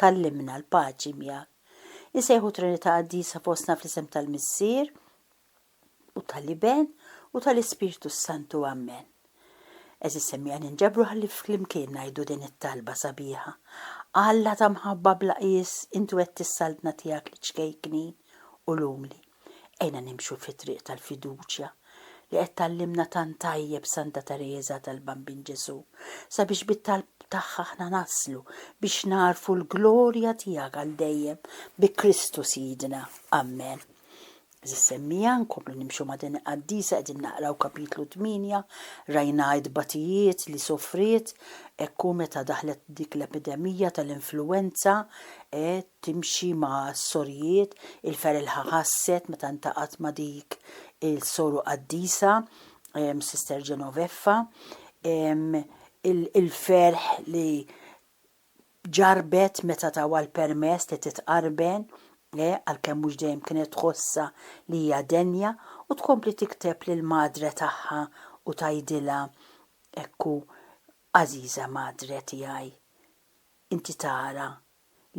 Tgħallimna l-paċi miegħek. Insejħu Trinità Qaddisa fostna fl-isem tal-Missier, u tal-Iben, u tal-Ispirtu s-Santu. Amen. Għeżież semmiegħa ninġabru ħalli flimkien ngħidu din it-talba sabiħa, Alla ta' mħabba bla qjies, Intu qed tissaltna tiegħek liċ-ċkejknin u l-umli. Għinna nimxu fit-triq tal-fiduċja li qed tgħallimna tant tajjeb Santa Tereża tal-Bambin Ġesù, sabiex bit-talb tagħha aħna naslu biex nagħrfu l-glorja tiegħek għal dejjem bi Kristu Sidna. Ammen. Għażiż semmiegħa, nkomplu nimxu ma' din il-qaddisa qegħdin naqraw kapitlu tmienja, rajnha t-tbatijiet li sofriet, hekk hu meta daħlet dik l-epidemija tal-influwenza, timxi ma' s-sorijiet, il-ferelħa ħasset meta ltaqgħet ma' dik il-soru qaddisa, Sister Genoveffa, il-ferħ li ġarrbet meta tawha l-permess li titqarben, għalkemm mhux dejjem kienet tħossha li hija denja, u tkompli tikteb lill-Madre tagħha u tgħidilha hekk hu, Għażiża Madre tiegħi, inti tara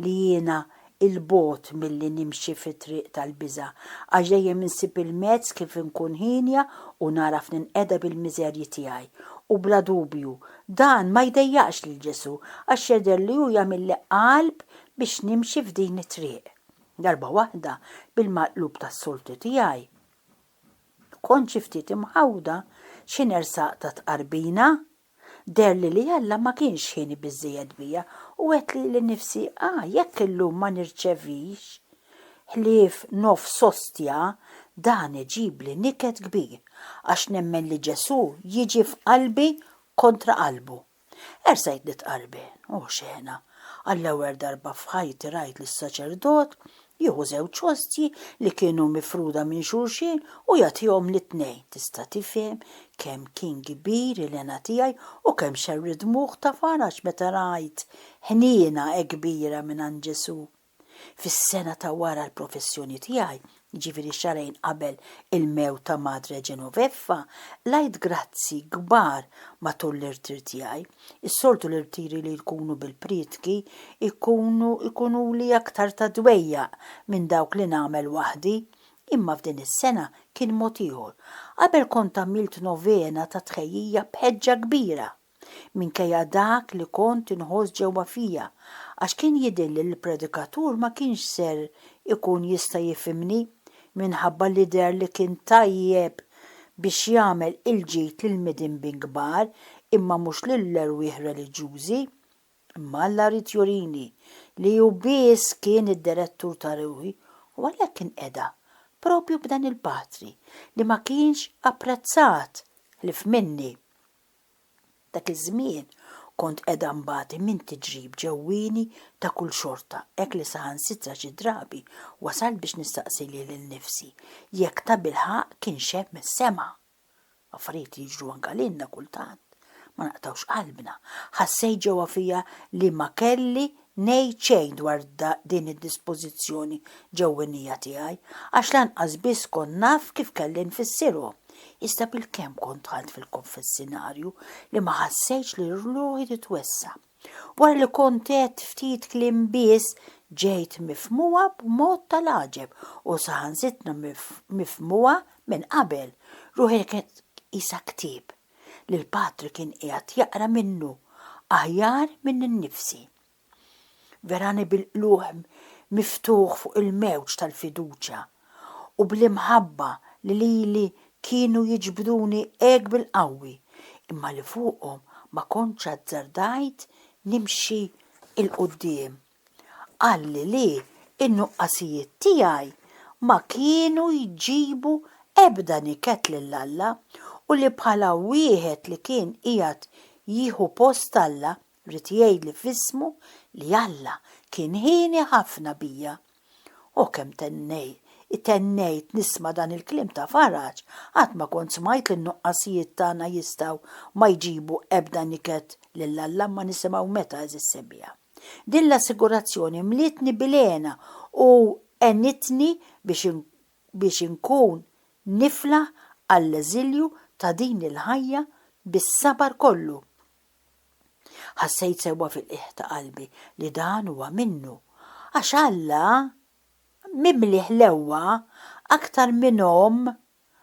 li jiena 'il bogħod milli nimxi fit-triq tal-biża', għax dejjem insib il-mezz kif inkun hienja u nagħraf ninqeda bil-miżerji tiegħi. U bla dubju, dan ma jdejjaqx lil Ġesù, għax jidher li hu jagħmilli qalb biex nimxi f'din it-triq. Darba waħda, bil-maqlub tas-soltu tiegħi, kont xi ftit imħawwda xi nersaq ta' tqarbina. Deherli li Alla ma kienx hieni biżżejjed bija u għedt lili nnifsi, 'A, jekk illum ma nirċevix ħlief nofs ostja, dan iġibli niket kbir, għax nemmen li Ġesù jiġi f'qalbi kontra qalbu. Ersajtni t-qalbi, o xena! Għall-ewwel darba f'ħajti rajt lis-saċerdot Jieħu żewġ ostji li kienu mifruda minn xulxin u jagħtihom lit-tnejn. Tista' tifhem kemm kien kbir il-hena tiegħi u kemm xerr id-dmugħ ta' faraġ meta rajt ħniena hekk kbira mingħand Ġesù. Fis-sena ta' wara l-professjoni tiegħi, jiġifieri xahrejn qabel il-mewt ta' Madre Genoveffa, qlajt grazzi kbar matul l-irtir tiegħi. Is-soltu l-irtiri li jkunu bil-prietki jkunu jkunuli aktar ta' dwejjaq minn dawk li nagħmel waħdi, imma f'din is-sena kien mod ieħor. Qabel kont għamilt novena ta' tħejjija b'ħeġġa kbira, minkejja dak li kont inħoss ġewwa fija, għax kien jidhirli li l-predikatur ma kienx ser ikun jista' jifhimni minħabba li deher li kien tajjeb biex jagħmel il-ġid lill-midinbin kbar imma mhux lill-erwieħ reliġjużi. Imma Alla ried jurini li hu biss kien id-direttur ta' ruħi u għalhekk inqeda proprju b'dan il-patri li ma kienx apprezzat ħlief minni. Dak iż-żmien kont qiegħda nbati minn tiġrib ġewwieni ta' kull xorta hekk li saħansitra xi drabi wasalt biex nistaqsi lili nnifsi jekk tabilħaqq kienx hemm is-sema. Affarijiet li jiġru anke lilna kultant ma naqtgħux qalbna. Ħassejt ġewwa fija li ma kelli ngħid xejn dwar din id-dispożizzjoni ġewwinija tiegħi, għax lanqas biss kont naf kif kelli nfissirhom, iżda bilkemm kont dħalt fil-konfessinarju li ma ħassejtx li ruħi titwessa'. Wara li kont għedt ftit kliem biss, ġejt mifhmuha b'mod tal-għaġeb u saħansitra mifhmuha minn qabel. Ruħi kienet qisha ktieb. li l-Patri kien qiegħed jaqra minnu aħjar minni nnifsi. Verani bil-qlugħ miftuħ fuq il-mewġ tal-fiduċja u bl-imħabba li lili kienu jiġbduni hekk bil-qawwi imma li fuqhom ma kontx azzardajt nimxi 'l quddiem. Qalli li n-nuqqasijiet tiegħi ma kienu jġibu ebda niket lil Alla u li bħala wieħed li kien qiegħed jieħu post Alla ried jgħidli f'ismu li Alla kien hieni ħafna bija. O kemm tennejt nisma' dan il-kliem ta' faraġ, qatt ma kont smajt li n-nuqqasijiet tagħna jistgħu ma jġibu ebda niket lil Alla imma nisimgħu meta, għeżież Sebija? Din l-assigurazzjoni mlietni bil-hena u għenitni biex biex inkun niflaħ għall-eżilju ta' din il-ħajja bis-sabar kollu. Ħassejt sewwa fil-qiegħ ta' qalbi li dan huwa minnu, għax Alla, mimliħ l-qewwa aktar minn omm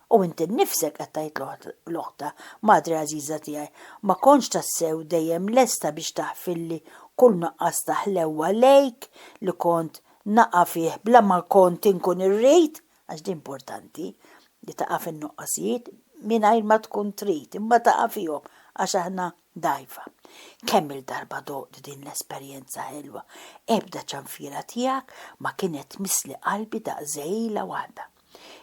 U inti nnifsek, qed tgħid l-oħta, madre għażiża tiegħi, ma kontx tassew dejjem lesta biex taħfilli kull nuqqas ta' ħlewwa lejk li kont naqa' fih bla ma kont inkun irrid, għax din mportanti, li taqa' fin-nuqqasijiet mingħajr ma tkun trid, imma taqa' fihom għax aħna dgħajfa. Kemm-il darba doqt din l-esperjenza ħelwa, ebda ċanfira tiegħek ma kienet tmissli qalbi daqs żegħila waħda.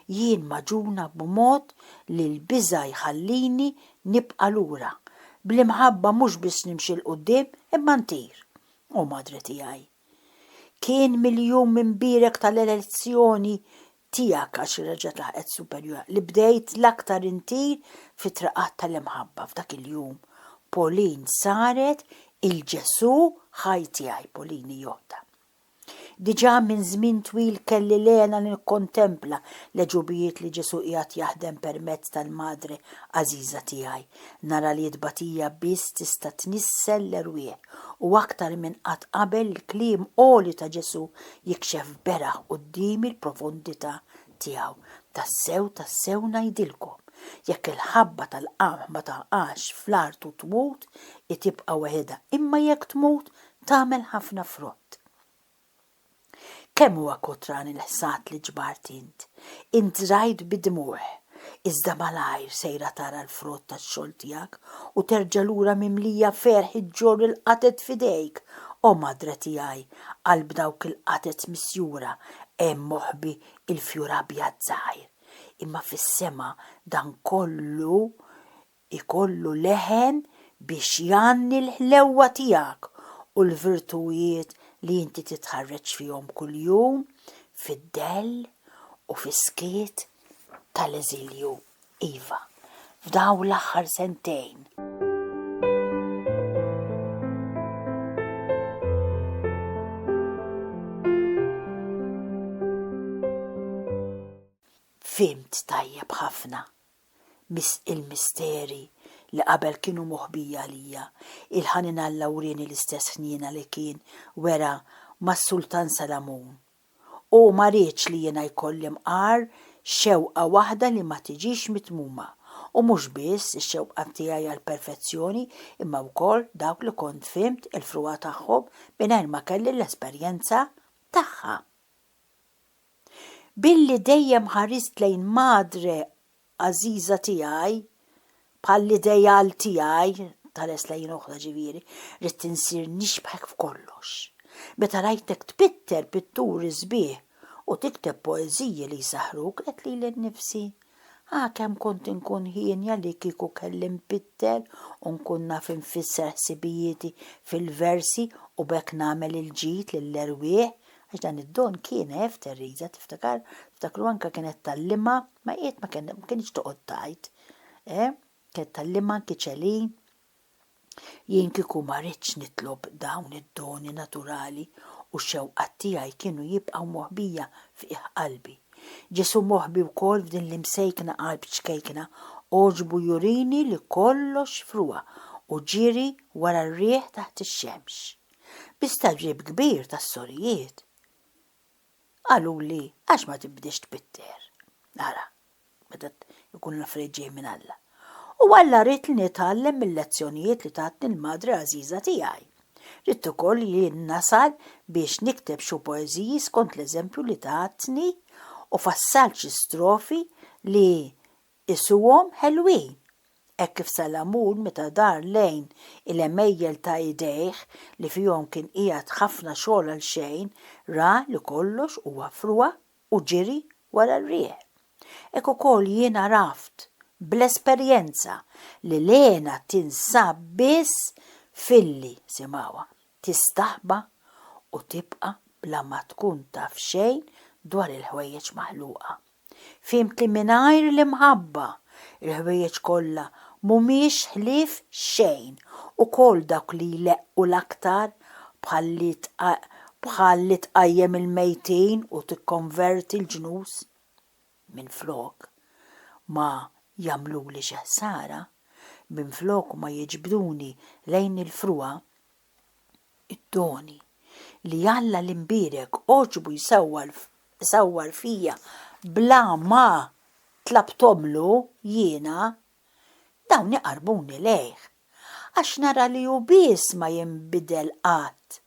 Jien magħġuna b'mod li l-biża' jħallini nibqa' lura. Bl-imħabba mhux biss nimxi 'l quddiem imma ntir, o Madre tiegħi. Kien mill-jum imbierek tal-elezzjoni tiegħek għax reġgħet laħqet superjura li bdejt l-aktar intir fit-triqat tal-imħabba f'dak il-jum. Pauline saret il-Ġesù ħaj tiegħi, Pauline hi oħta. Diġà minn żmien twil kelli l-hena nikkontempla l-għeġubijiet li Ġesù qiegħed jaħdem permezz tal-Madre għażiża tiegħi. Nara li t-tbatija biss tista' tnissel l-erwieħ, u aktar minn qatt qabel il-kliem għoli ta' Ġesù jikxef beraħ quddiemi l-profondità tiegħu, Tassew, tassew ngħidilkom, jekk il-ħabba tal-qamħ ma taqax fl-art u tmut, hi tibqa' weħidha, imma jekk tmut, tagħmel ħafna frott. Kemm huwa kotran il-ħsad li ġbart int! Int żrajt bid-dmugħ, iżda malajr sejra tara l-frott tax-xogħol tiegħek u terġa' lura mimlija ferħ iġġorr il-qatgħet f'idejk. O Madre tiegħi, qalb dawk il-qatgħet misjura hemm moħbi il-fjur abjad żgħir. Imma fis-sema dan kollu ikollu leħen biex jgħanni l-ħlewwa tiegħek u l-virtujiet li inti titħarreġ fihom kuljum fid-dell u fis-skiet tal-eżilju, iva, f'dawn l-aħħar sentejn. Fhimt tajjeb ħafna biss il-misteri li qabel kienu moħbija għalija, il-ħanin Alla wrieni l-istess ħniena li kien wera mas-Sultan Salamun. U ma riedx li jiena jkolli mqar xewqa waħda li ma tiġix mitmuma, u mhux biss ix-xewqat tiegħi għall-perfezzjoni imma wkoll dawk li kont fhimt il-frugħa tagħhom mingħajr ma kelli l-esperjenza tagħha. Billi dejjem ħarist lejn Madre għażiża tiegħi bħall-ideal tiegħi, tħares lejn oħra ġifieri, ridt insir nixbħek f'kollox. Meta rajtek tpitter pitturi sbieħ u tikteb poeżiji li jsaħħruk, għedt lili nnifsi, Ah, kemm kont inkun hienja li kieku kelli nbiddel u nkun naf infisser ħsibijieti fil-versi u b'hekk nagħmel il-ġid lill-erwieħ! Għax dan id-don kien għef Teresa, tiftakar? Tiftakru anke kienet tgħallimha, ma qiegħed ma kienx toqgħod tgħid, eh? Kienet tgħallimha anki Céline. Jien kieku ma ridtx nitlob dawn id-doni naturali u x-xewqat tiegħi kienu jibqgħu moħbija f'qiegħ qalbi. Ġesù moħbi wkoll f'din l-imsejkna qalb ċkejkna għoġbu jurini li kollox fruha u ġieri wara r-riħ taħt ix-xemx. Bi stagħrib kbir tas-sorijiet. Qaluli, Għax ma tibdiex tbitter? Ara, meta jkunu l-affarijiet ġejjin minn Alla. U Alla ried li nitgħallem mil-lezzjonijiet li tatni l-madre għażiża tiegħi. Ridt ukoll li jien nasal biex nikteb xu poeżiji skont l-eżempju li tatni u fassalt xi strofi li Qisuhom ħelwin, hekk kif Salamun meta dar lejn il-għemejjel ta' idejh li fihom kien qiegħed ħafna xogħol għal xejn, ra li kollox huwa frugħa u ġiri wara r-riħ. Hekk ukoll jien għaraft, bl-esperjenza, li l-hena tinsab biss filli, simgħuha, tistaħba u tibqa' bla ma tkun taf xejn dwar il-ħwejjeġ maħluqa. Fhimt li mingħajr l-imħabba, il-ħwejjeġ kollha mhumiex ħlief xejn, ukoll dawk li jleqqu l-aktar, bħal li tqajjem il-mejtin u tikkonverti l-ġnus. Minflok ma jagħmluli xi ħsara, minflok ma jiġbduni lejn il-frugħa, Id-doni li Alla l-imbierek għoġbu jsawwar fija bla ma tlabthomlu jiena, dawn iqarrbuni lejh, għax nara li hu biss ma jinbidel qatt,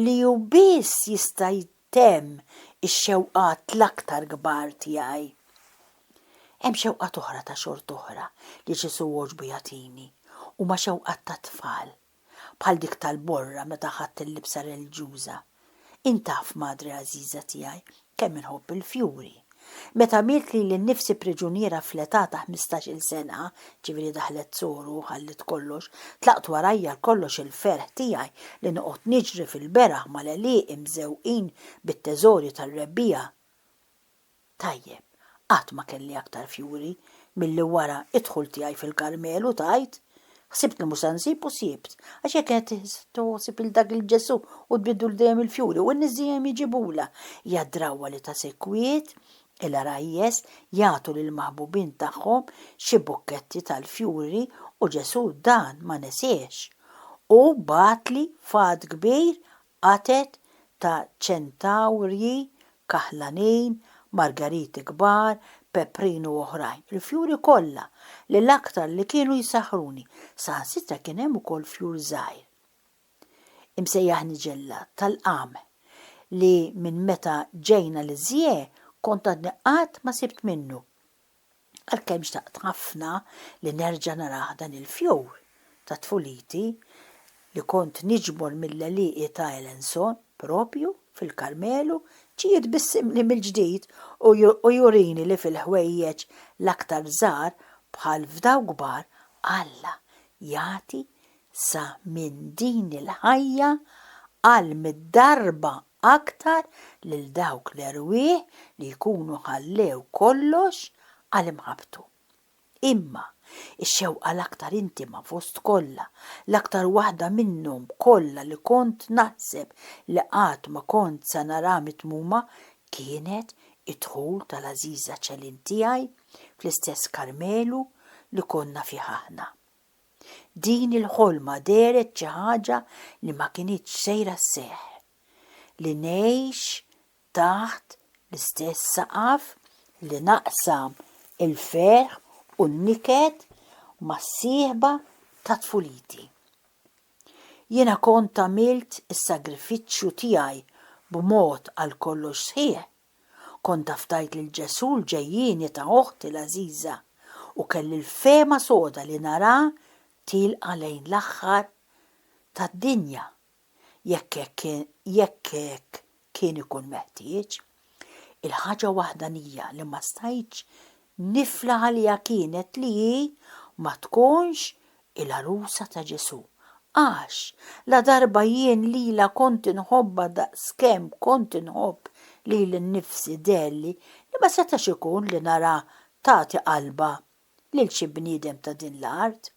li hu biss jista' jtemm ix-xewqat l-aktar kbar tiegħi. Hemm xewqat oħra ta' xort'oħra li Ġesù għoġbu jagħtini, huma xewqat tat-tfal. bħal dik tal-borra meta ħadt il-libsa reliġjuża. Int taf, madre għażiża tiegħi, kemm inħobb il-fjuri. Meta għamilt lili nnifsi priġuniera fl-età ta' ħmistax-il sena, ġifieri daħlet Soru u ħalliet kollox, tlaqt warajja għalkollox il-ferħ tiegħi li noqgħod niġri fil-beraħ mal-għelieqi mżewwqin bit-teżori tar-rebbiegħa. Tajjeb, qatt ma kelli aktar fjuri milli wara d-dħul tiegħi fil-Karmelu, tgħid. Ħsibt li mhux se nsib u sibt. Għax jekk qed toħsib lil dak il-Ġesù u tbiddlu dejjem il-fjuri u n-nies iġibulha, hija d-drawwa li ta' sikwit il-għarajjes jagħtu lill-maħbubin tagħhom xi bukketti tal-fjuri u Ġesù dan ma nesiehx u bagħatli fatt kbir Qatgħet ta' ċentawrji, kaħlanin, margariti kbar, peprin u oħrajn. Il-fjuri kollha, li l-aktar li kienu jsaħħruni, saħansitra kien hemm ukoll fjur żgħir, imsejjaħ niġella, tal-qam, li minn meta ġejna l-Isjee kont għadni qatt ma sibt minnu. Għalkemm xtaqt ħafna li nerġa' narah dan il-fjur ta' tfuliti li kont niġbor mill-għelieqi ta' Alençon, proprju fil-Karmelu, ġie jitbissimli mill-ġdid u jurini li fil-ħwejjeġ l-aktar żgħar bħal f'dawk kbar, Alla jagħti sa minn din il-ħajja għal mitt darba aktar lil dawk l-erwieħ li jkunu ħallew kollox għal imħabbtu. Imma, ix-xewqa l-aktar intima fost kollha, l-aktar waħda minnhom kollha li kont naħseb li qatt ma kont se nara mitmuma kienet id-dħul tal-għażiża Céline tiegħi fl-istess Karmelu li konna fih aħna. Din il-ħolma dehret xi ħaġa li ma kinitx sejra sseħħ. Li ngħix taħt l-istess saqaf, li naqsam il-ferħ u n-niket mas-sieħba ta' tfuliti. Jiena kont għamilt is-sagrifiċċju tiegħi b'mod għal kollox sħiħ, Kont afdajt lil Ġesù l-ġejjieni ta' oħti l-għażiża u kelli l-fehma soda li naraha tielqa' lejn l-aħħar tad-dinja jekk hekk jekk hekk kien ikun meħtieġ. Il-ħaġa waħdanija li ma stajtx nifla għaliha kienet li hi ma tkunx il-għarusa ta' Ġesù, għax ladarba jien lilha kont inħobbha daqskemm kont inħobb lili nnifsi deherli li ma setax ikun li naraha tagħti qalbha lil xi bniedem ta' din l-art.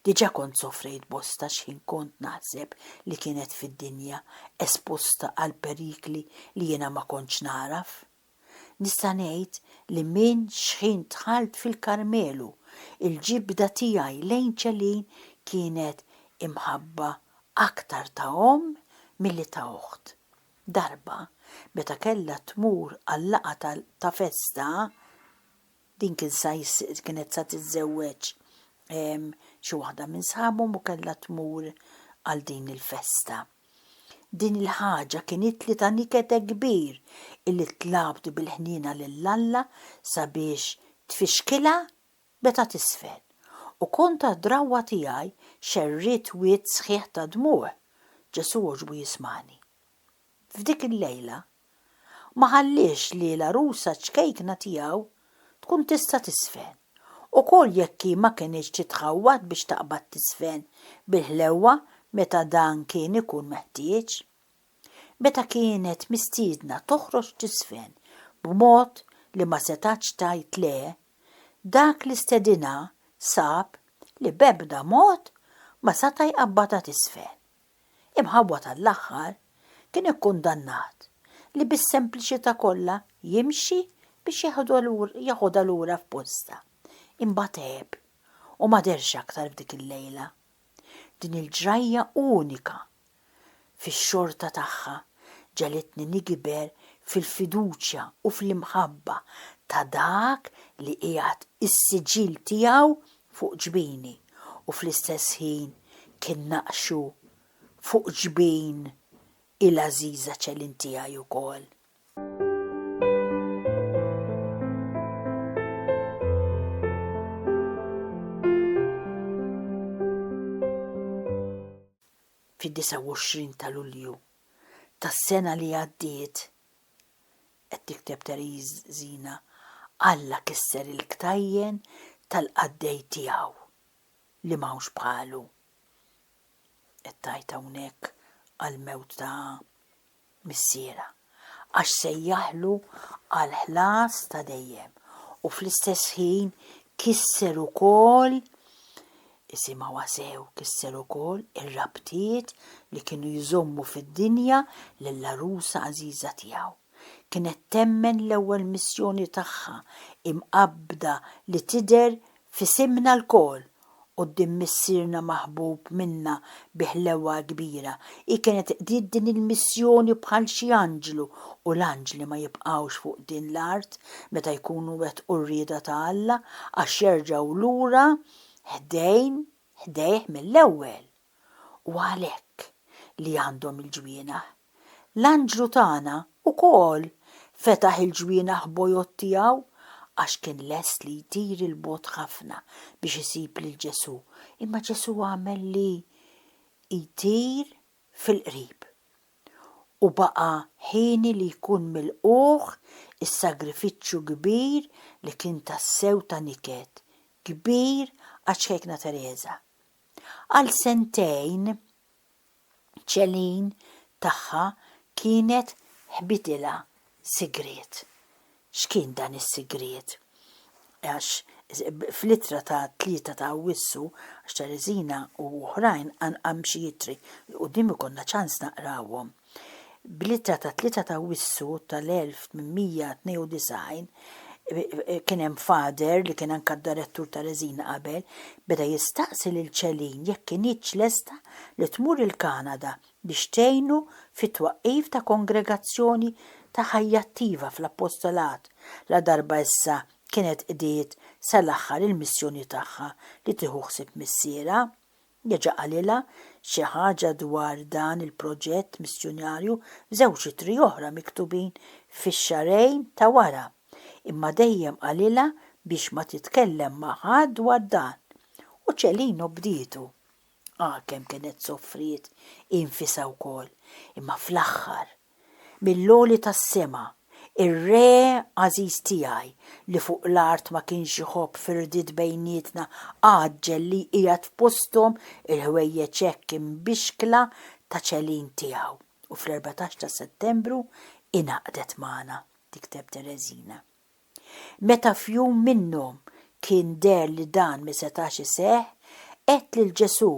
Diġà kont sofrejt bosta x'ħin kont naħseb li kienet fid-dinja esposta għall-perikli li jiena ma kontx nagħraf. Nista' ngħid li minn xħin dħalt fil-Karmelu, il-ġibda tiegħi lejn Céline kienet imħabba aktar ta' omm milli ta' oħt. Darba, meta kellha tmur għal-laqgħa ta' festa, Din kien sa kienet sa tiżżewweġ xi waħda minn sħabhom u kellha tmur għal din il-festa. Din il-ħaġa kienitli ta' nikete kbir illi tlabt bil-ħniena lil Alla sabiex tfixkilha meta tisfel. U kontra d-drawwa tiegħi xerridt wied sħiħ ta' dmugħ. Ġesù għoġbu jismagħni. F'dik il-lejla Ma ħalliex li l-għarusa ċkejkna tiegħu tkun tista' tiżfen, ukoll jekk hi ma kinitx titħawwad biex taqbad tiżfen bil-ħlewwa meta dan kien ikun meħtieġ. Meta kienet mistiedna toħroġ tiżfen b'mod li ma setgħetx tgħid le, dak li stedinha sab li b'ebda mod ma seta' jqabbadha tiżfen. Imħawwad għall-aħħar, kien ikkundannat li bis-sempliċità kollha jimxi biex jaħodha lura f'postha. Imbagħad għeb u ma dehrx aktar f'dik il-lejla. Din il-ġrajja unika fix-xorta tagħha ġegħlitni nigiber fil-fiduċja u fl-imħabba ta' Dak li qiegħed is-siġill tiegħu fuq ġbini u fl-istess ħin kien naqxu fuq ġbin il-għażiża Céline tiegħi wkoll. Fid-29 ta' Lulju tas-sena li għaddiet, Qed tikteb Tereżina, Alla kisser il-ktajjen tal-qaddej tiegħu li m'hawnx bħalu. Qed tgħid hawnhekk għall-mewt ta' missierha, għax sejjaħlu għall-ħlas ta' dejjem u fl-istess ħin kisser ukoll Isimgħuha sew kisser ukoll ir-rabtiet li kienu jżommu fid-dinja lill-għarusa għażiża tiegħu. Kienet temmen l-ewwel missjoni tagħha imqabbda li tidher f'isimna lkoll quddiem Missierna maħbub minna bi ħlewwa kbira. Hi kienet qdiet din il-missjoni bħal xi anġlu u l-anġli ma jibqgħux fuq din l-art meta jkunu wettqu r-rieda ta' Alla għax jerġgħu lura ħdejn ħdejh mill-ewwel, u għalhekk li għandhom il-ġwienaħ. L-anġlu tagħna wkoll fetaħ il-ġwienaħ bojod tiegħu għax kien lest li jtir 'il bogħod ħafna biex isib lil Ġesù, imma Ġesù għamel li jtir fil-qrib, u baqa' hieni li jkun milqugħ is-sagrifiċċju kbir li kien tassew ta' niket kbir għaċ-Ċkejkna Tereża. Għal sentejn Ċelin tagħha kienet ħbitilha sigriet. X'kien dan is-sigriet? Għax fl-ittra ta' 3 ta' Awwissu, għax Tereżina u oħrajn għandhom xi ittri, il-quddiem ikollna ċans naqrawhom. Bl-ittra ta' 3 ta' Awwissu tal-1892, kien hemm Fader li kien anke d-Direttur Tereżin qabel, beda jistaqsi lil Céline jekk kinitx lesta li tmur il-Kanada biex tgħinu fit-twaqqif ta' kongregazzjoni ta' ħajja attiva fl-appostolat, ladarba issa kienet qdiet sa l-aħħar il-missjoni tagħha li tieħu ħsieb missierha. Reġa' qalilha xi ħaġa dwar dan il-proġett missjunarju f'żewġ ittri oħra miktubin fix-xahrejn ta' wara, imma dejjem qalilha biex ma titkellem ma' ħadd dwar dan. U Celino bdietu. Agħa kemm kienet sofriet hi nfisha wkoll, imma fl-aħħar, mill-għoli tas-sema, ir-Re għażiż tiegħi li fuq l-art ma kienx iħobb firdiet bejnietna għaġġel li jqiegħed f'posthom il-ħwejjeġ hekk imbixkla ta' ċelin tiegħu u fl-erbatax ta' Settembru ingħaqdet magħna, tikteb Tereżina. Meta f'jum minnhom kien deher li dan mi setax iseħħ, għedt lil Ġesù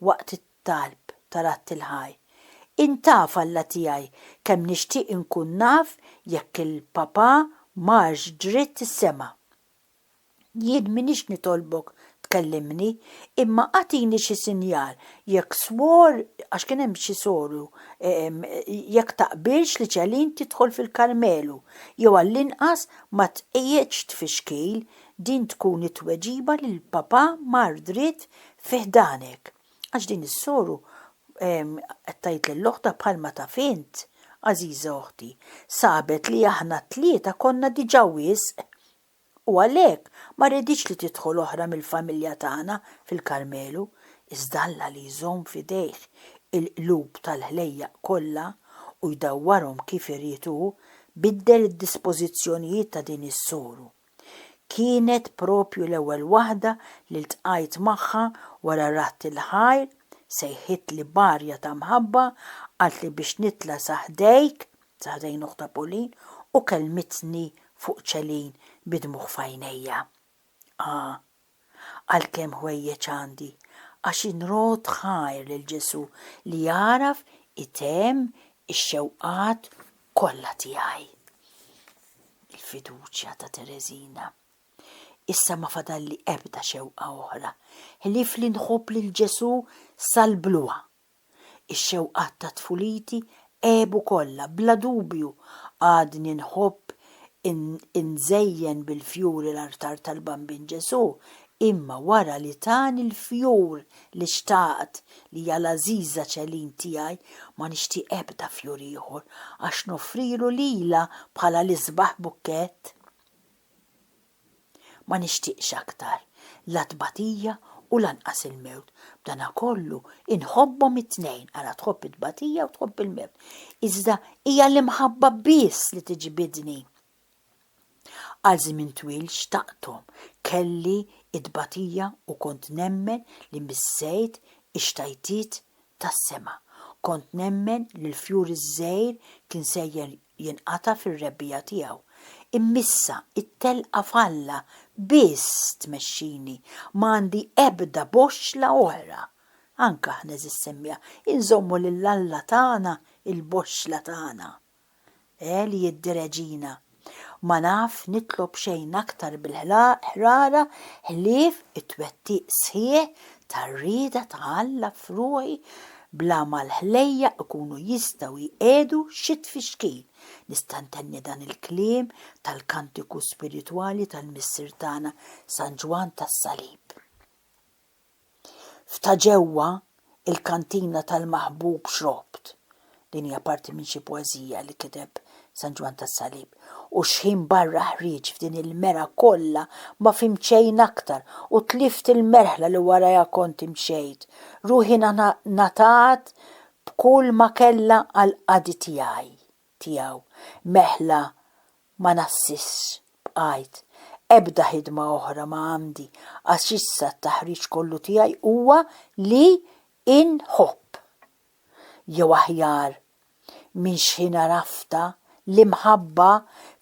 waqt it-talb tal-Għadd il-Ħaj, Int taf, Alla tiegħi, kemm nixtieq inkun naf jekk il-papà marx dritt is-sema. Jien m'iniex nitolbok tkellimni, imma agħtini xi sinjal, jekk swor, għax kien hemm xi soru, jekk taqbilx li Celine tidħol fil-Karmelu, jew għall-inqas ma tqiegħedx tfixkil, din tkun it-tweġiba li l-Papà mar dritt fi ħdanek. Għax din is-soru qed tgħid lil oħtha bħalma taf int, għażiża oħti, sabet li aħna t-tlieta konna diġà wisq u għalhekk ma rriditx li tidħol oħra mill-familja tagħna fil-Karmelu, iżda Alla li jżomm f'idejh il-qlub tal-ħlejjaq kollha u jdawwarhom kif irid hu, biddel id-dispożizzjonijiet ta' din is-soru. Kienet proprju l-ewwel waħda li ltqajt magħha wara radd il-ħajr, sejħitli b'arja ta' mħabba, qaltli biex nitla' sa ħdejk, Taħdejn oħtha Pauline u kellmitni fuq Celine bi dmugħ f'għajnejja. Ah, għal kemm ħwejjeġ għandi, għax inrot ħajr lil Ġesù li jagħraf itemm ix-xewqat kollha tiegħi. Il-fiduċja ta' Tereżina. Issa ma fadalli ebda xewqa oħra, ħlief li nħobb lil Ġesù sal-bluha. Ix-xewqat ta' tfuliti għebu kollha, bla dubju għadni nħobb inżejjen bil-fjuri l-artar tal-Bambin Ġesù, imma wara li tani l-fjur li xtaqt, li hija l-għażiża Ċelin tiegħi, ma nixtieq ebda fjur ieħor, għax noffrilu lilha bħala l-isbaħ bukkett. Ma nixtieqx aktar la tbatija u lanqas il-mewt. B'danakollu, inħobbhom it-tnejn għala tħobb it-tbatija u tħobb il-mewt. Iżda hija l-imħabba biss li tiġbidni. Għal żmien twil xtaqthom, kelli t-tbatija u kont nemmen li missejt ix-xtajtiet tas-sema. Kont nemmen li l-fjur iż-żgħir kien sejjer jinqata' fir-rebbiegħa tiegħu. Immissa, it-telqa f'Alla biss tmexxini, ma għandi ebda boxxla oħra. Anke aħna, għeżież Semja, inżommu lil Alla tagħna l-boxxla tagħna. Eh, li jiddireġina! Ma naf nitlob xejn aktar bil-ħrara ħlief it-twettiq sħiħ tar-rieda ta' Alla f'ruħi bla ma l-ħlejjaq ikunu jistgħu jqiegħdu xi tfixkil. Nista' ntenni dan il-kliem tal-kantiku spiritwali tal-Missier tagħna San Ġwann tas-Salib. F'ta' ġewwa, il-kantina tal-maħbub xrobt, Din hija parti minn xi poeżija li kiteb San Ġwann tas-Salib. U xħin barra ħrieġt f'din il-merha kollha ma fhimt xejn aktar u tlift il-merħla li warajha kont imxejt. Ruħi ngħatat b'kull ma kellha għall-qadi tiegħi, tiegħu. Meħla ma nassisx, bqajt. Ebda ħidma oħra ma għandi għax issa t-taħriġ kollu tiegħi huwa li inħobb. jew aħjar, minn xħin għaraftha, l-imħabba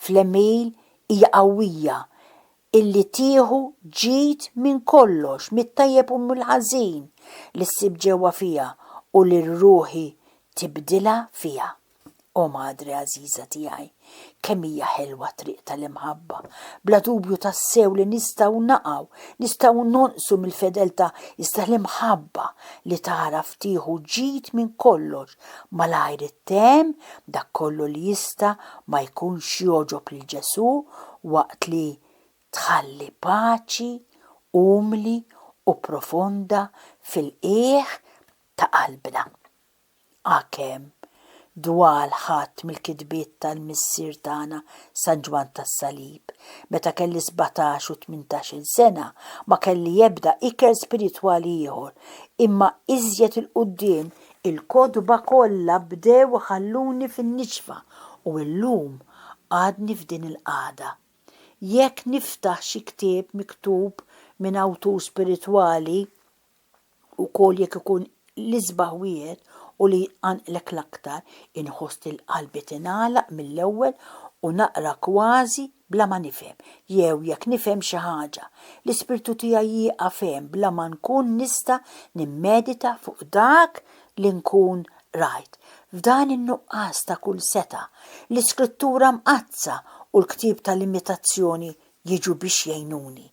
fl-għemil hija qawwija, illi tieħu ġid minn kollox, mit-tajjeb u mill-ħażin li ssib ġewwa fiha u li r-ruħi tibdilha fiha. O Madre għażiża tiegħi, kemm hija ħelwa t-triq tal-imħabba! Bla dubju tassew li nistgħu naqgħu, nistgħu nonqsu mill-fedeltà, iżda l-imħabba li tagħraf tieħu ġid minn kollox, malajr ittemm dak kollu li jista' ma jkunx jogħġob lil Ġesù waqt li tħalli paċi umli u profonda fil-qiegħ ta' qalbna. Għakemm dwal ħadd mill-kitbiet tal-missier tagħna San Ġwann tas-Salib, meta kelli sbatax u tmintax-il sena, ma kelli ebda ikel spiritwali ieħor, imma iżjed 'il quddiem il-kotba kollha bdew iħalluni fin-nixfa u llum għadni f'din il-qagħda. Jekk niftaħ xi ktieb miktub minn awtur spiritwali, ukoll jekk ikun l-isbaħ wieħed u li jqanqlek l-aktar, inħoss li l-qalbi tingħalaq mill-ewwel u naqra kważi bla ma nifhem, jew jekk nifhem xi ħaġa, l-ispirtu tiegħi jieqaf hemm bla ma nkun nista' nimmedita fuq dak li nkun qrajt. F'dan in-nuqqas ta' kull setgħa, l-Iskrittura Mqaddsa u l-ktieb tal-imitazzjoni jiġu biex jgħinuni.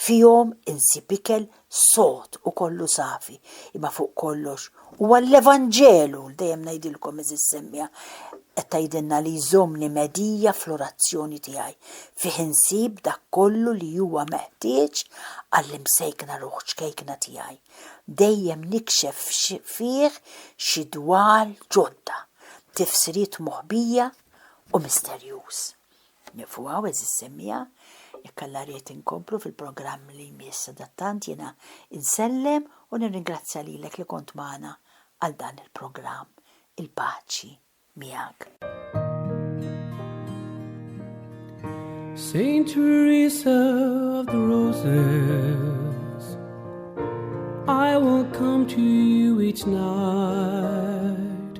Fihom insib ikel sod u kollu safi, imma fuq kollox, huwa l-Evanġelu li dejjem ngħidilkom għeżież semmiegħa qed tgħidilna li jżommni medija fl-orazzjoni tiegħi. Fih insib dak kollu li huwa meħtieġ għall-imsejkna ruħ ċkejkna tiegħi. Dejjem nikxef fih xi dwal ġodda, tifsiriet moħbija u misterjuż. Nieqfu hawn, għeżież semmiegħa, jekk Alla ried inkomplu fil-programm li jmiss. Sadattant jiena insellem u nirringrazzja lilek li kont magħna għal dan il-programm. Il-paċi miegħek. Saint Teresa of the Roses I will come to you each night